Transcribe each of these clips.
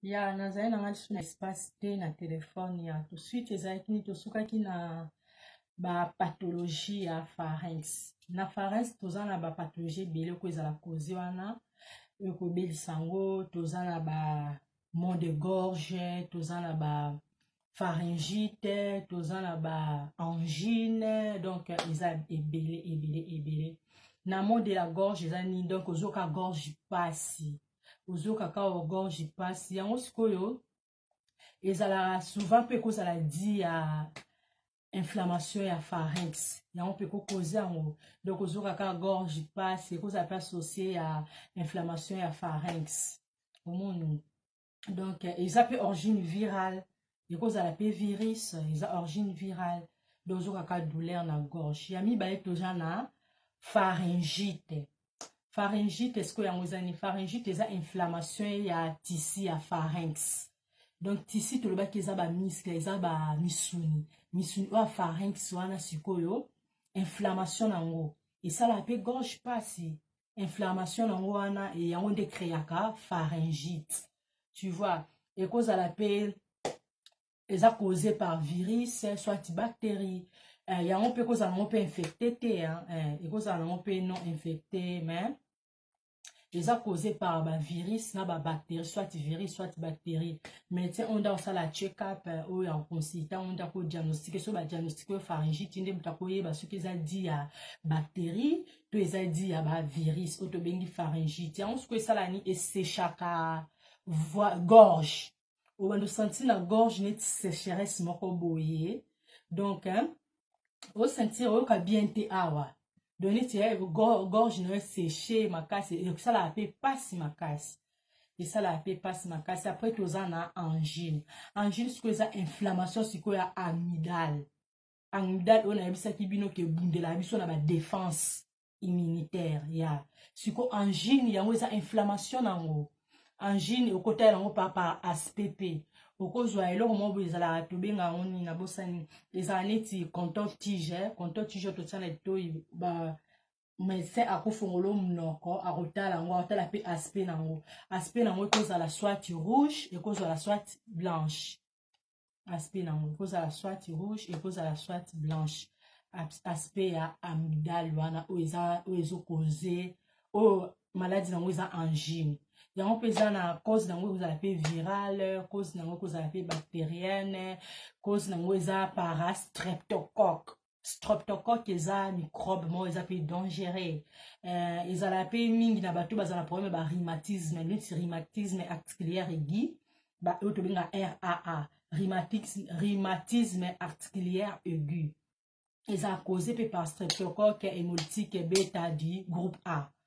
ya nazali na nga lisusu na espace te na telefone ya tout suite ezalaki nini tosukaki na bapathologie ya pharynx na pharynx toza na bapathologie ebele oko ezala kozi wana ekobelisa yango toza na ba mont de gorge toza na ba pharyngite toza na ba angine donc eza ebele ebele ebele na mot de la gorge eza nini donc ozoka gorge pasi ozoka ka gorge pasi yango sikoyo ezalaka souvent mpe ekozala di ya inflammation ya pharynx yango mpe ekokoza yango donc ozoka ka gorge pasi ekozala mpe associe ya inflammation ya pharynx omoni donc eza mpe origine virale ekozala mpe virus eza origine virale donc ozokaka douleur na gorge ya mibale toza na pharyngite pharyngite esiko yango eza nini pharyngite eza inflammation ya tisi ya pharynx donc tisi tolobaki eza bamiskle eza bamisuni misuni oyo ya pharynx wana sikoyo inflammation na yango esalaka mpe gorge mpasi inflammation nango wana e, yango nde créaka pharyngite tu vois ekozala mpe eza cause par virus soit bactérie eh, yango mpe ekozala nango mpe infecté te eh, ekozala nango mpe non infecté mais eza cause par bavirus na babactérie soit virus soit bactérie mais ti onda osala check-up eh, oyo ya koconsulta onda kodiagnostike so badiagnostike oyo pharyngite nde moto akoyeba soki eza di ya bactérie to eza di ya bavirus oyo tobengi pharyngite yango soko esala ni esechaka gorge obanda osentir na gorge neti sécheresse moko boye donc osentir oyoka bien te awa donc neti eh, gorge na yo séche makasi esalaka mpe mpasi makasi esalaka mpe mpasi makasi après toza na angine angine sikoyo eza inflammation sikoyo ya amidale en date oyo nayebisaki bino ke ebundela biso na badefense immunitaire ya yeah. siko angine yango eza inflammation na yango angine okotala yango pa par aspect mpe okozwa eloko moko boye ezalaka tobenga yango nini nabosani ezala neti contor tige contor tige totia na litoi ba médecin akofongolo monoko akotala yango akotala mpe aspect na yango aspect na yango ekozala soit rouge ekozala soit blanche aspect nango ekozala soit rouge ekozala soit blanche aspect ya amidale wana oyo eza oyo ezokoze oyo maladi nango eza angine yango mpe eza na cause nango ekozala mpe virale cause nango ekozala mpe bacterienne cause nango eza parastreptocoque streptocoque eza microbe moko eza mpe dangereux euh, ezalaka mpe mingi na bato bazala problème ya barhumatisme neti rhumatisme articulaire aigu oyo tobenga raa rhumatisme articulaire aigu eza cause mpe par streptocoque hémolytique beta du groupe a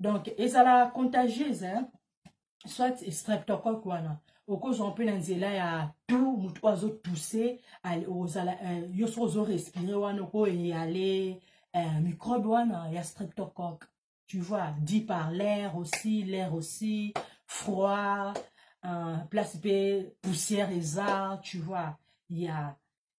donc ezala contagieuse hein? soit streptocoque wana okozwa mpe na nzela ya tu motu oyo azotuse ozala euh, yo soki ozorespire wana okoyale euh, microbe wana ya streptocoque tu vois dit par l'air aussi l'air aussi froid euh, place mpe poussière eza tu vois ya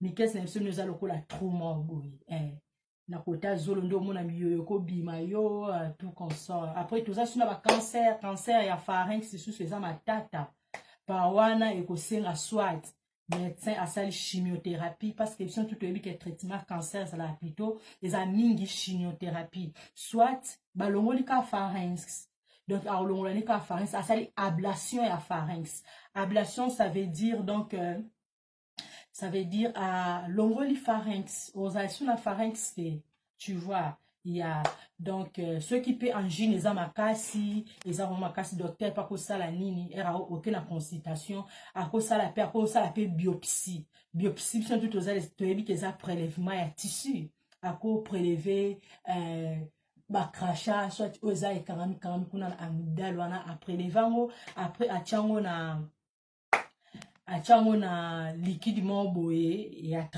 mikese na biso nde oza lokola trou moko boye eh. na kota zolo nde omona miyoyo ekobima yo euh, tout consort après toza suna bacancer cancer ya farinx lisusu eza matata pa wana ekosenga swat médecin asali chimiothérapie parce que biso tout toyebi ke traitement cancer ezalaka plutôt eza mingi chimiothérapie soit balongoli ka pharynx donc alongolani ka pharynx asali ablation ya pharynx ablation ça veut dire donc euh, ça veut dire à longoli pharynx ozali sur la pharynx te tu vois ya donc euh, soki mpe angine eza makasi eza vraimen makasi docteur mpe akosala nini ere oke na consultation akosala mpe akosala mpe biopsie biopsie biso ntu toyebi ke eza prélèvement ya tissu ako préleve euh, bacracha soit oyo eza ekangami kangami kuna na amidale wana apreleve yango après atya yango na atya yango na likidi moko boye ya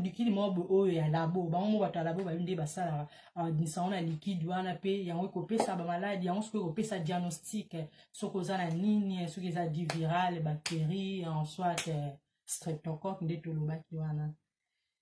likidi moko boye oyo ya labo bango moko bato ya labo bayebi nde basalaka abimisa yango na likidi wana mpe yango ekopesa bamaladi yango soki ekopesa diagnostic soki oza na nini soki eza di viral bacterie en soit streptocoque nde tolobaki wana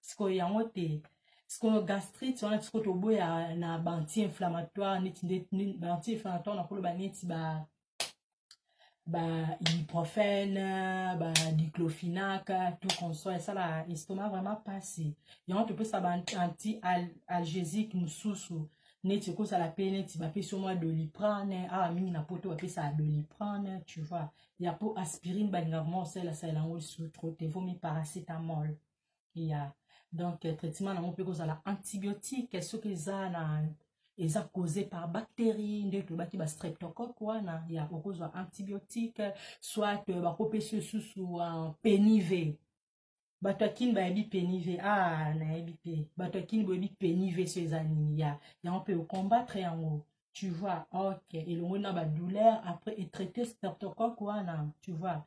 sikoyo yango te sikoyo gastrite wana sikoyo toboya na banti inflammatoire neti nde banti inflammatoire nakoloba neti ba ba ibuprofène ba diclofenac tout consoit esala estomac vraiment mpasi yango topesa ba anti algésique mosusu neti ekozala mpe neti bapesi yo mwa doliprane awa mingi na poto bapesaka doliprane tu vois ya mpo aspirine balingaka mwa osalasalela yango lisusu trop te vomi paracetamol ya donc traitement nango mpe kozala antibiotique soki eza na eza cause par bactérie nde tolobaki ba streptocoque wana ya okozwa antibiotique soit euh, bakopesi osusu euh, penive bato ya kini bayebi penive a ah, nayebi te bato ya kini boyebi penive so eza nini ya yango mpe okombattre yango tu vois ok elongoli na badouleur après etraite streptocoque wana tu vois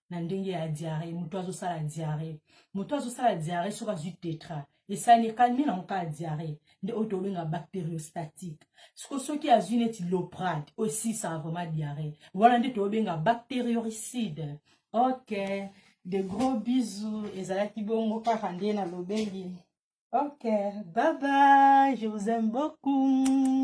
na ndenge ya diare moto azosala diare moto azosala diare soki azwi tetra esali ekalmi nango kaka diare nde oyo tobenga bacteriostatique siko soki azwi neti loprade oyo esisaka vraiment diare wana nde tobenga bacterioricide ok de gros bisous ezalaki bongo kaka nde nalobeli ok bye bye je vous aime beaucoup